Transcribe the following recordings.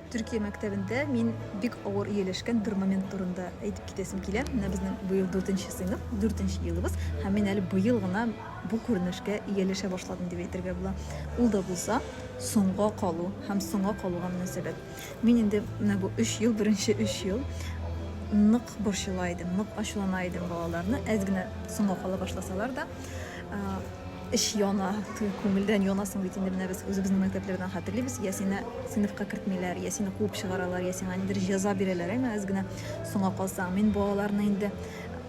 Төркия мәктәбендә мин бик авыр ияләшкән бер момент турында әйтеп китәсем килә. Менә безнең быел 4 нче сыйныф, 4 нче елыбыз, һәм мин әле быел гына бу күренешкә ияләшә башладым дип әйтергә була. Ул да булса, соңга калу һәм соңга калуга мөнәсәбәт. Мин инде менә бу 3 ел, беренче 3 ел нык борчыла идем, нык ачулана идем балаларны, әз генә соңга кала башласалар да. Эч яна, туй күңелдән яна соң бит инде, менә без үзебезнең мәктәпләрдән хәтерлибез, я сине сыйныфка кертмиләр, я сине куып чыгаралар, я сиңа ниндидер җәза бирәләр, әмма әз генә соңа калсаң. Мин бу аларны инде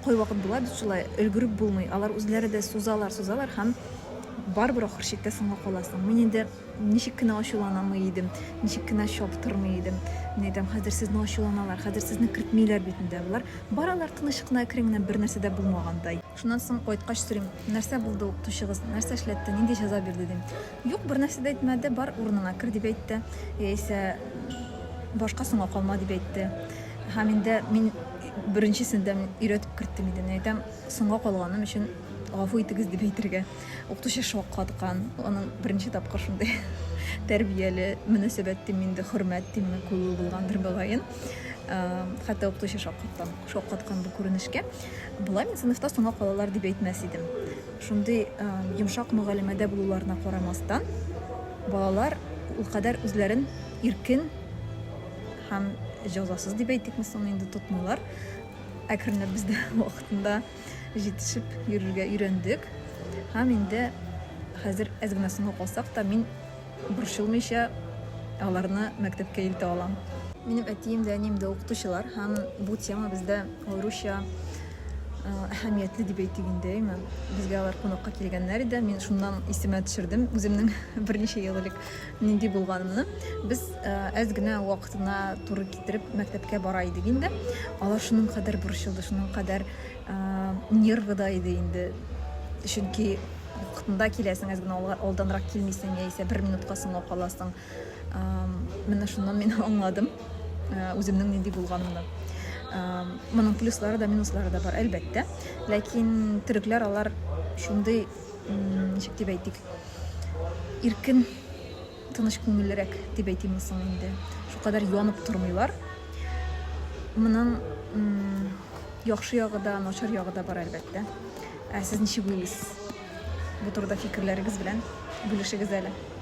кайвакыт була бит шулай, өлгереп булмый, алар үзләре дә сузалар, сузалар һәм барыбер ахыр чиктә соңга каласың. Мин инде ничек кенә ачуланамый идем, ничек кенә чаптырмый идем. Мин әйтәм, хәзер сезне ачуланалар, хәзер сезне кертмиләр бит инде, ә болар баралар тыныч кына, әкрен генә, бернәрсә дә булмагандай. Шуннан соң кайткач сорыйм, нәрсә булды укытучыгыз, нәрсә эшләтте, нинди җәза бирде, дим. Юк, бернәрсә дә әйтмәде, бар, урыныңа кер, дип әйтте, яисә башка соңга калма, дип әйтте. Һәм инде мин беренчесендә мин өйрәтеп керттем иде. Мин әйтәм, соңга калганым өчен гафу итегез дип әйтергә. Укытучы шаккаткан, аның беренче тапкыр шундый тәрбияле мөнәсәбәт димме инде, хөрмәт димме, күрүе булгандыр, мөгаен. Хәтта укытучы шаккаткан, шаккаткан бу күренешкә. Болай мин сыйныфта соңга калалар дип әйтмәс идем. Шундый йомшак мөгалимәдә булуларына карамастан, балалар ул кадәр үзләрен иркен һәм җәзасыз дип әйтикме соң инде тотмыйлар. Әкренләп без дә вакытында җитешеп йөрергә өйрәндек. Һәм инде хәзер әз генә соңга калсак та мин Борчылмыйча аларны мәктәпкә илтә алам. Минем әтием дә, әнием дә укытучылар һәм бу тема бездә аеруча әһәмиятле дип әйтик инде, әйме. Безгә алар кунакка килгәннәр иде. Мин шуннан исемә төшердем үземнең берничә ел элек нинди булганымны. Без әз генә вакытына туры китереп мәктәпкә бара идек инде. Алар шуның кадәр борчылды, шуның кадәр нервыда иде инде. Чөнки Вакытында киләсең, әз генә алга- алданрак килмисең, яисә бер минутка соңга каласың. Ам, Менә шуннан мин аңладым э, үземнең нинди булганымны. Ам, Моның плюслары да, минуслары да бар, әлбәттә. Ләкин төрекләр алар шундый, м, ничек дип әйтик, иркен Тыныч күңеллерәк дип әйтимме соң инде. Шулкадәр янып тормыйлар. Моның яхшы ягы да, начар ягы да бар, әлбәттә. Ә сез ничек уйлыйсыз? Бу турыда фикерләрегез белән бүлешегез әле.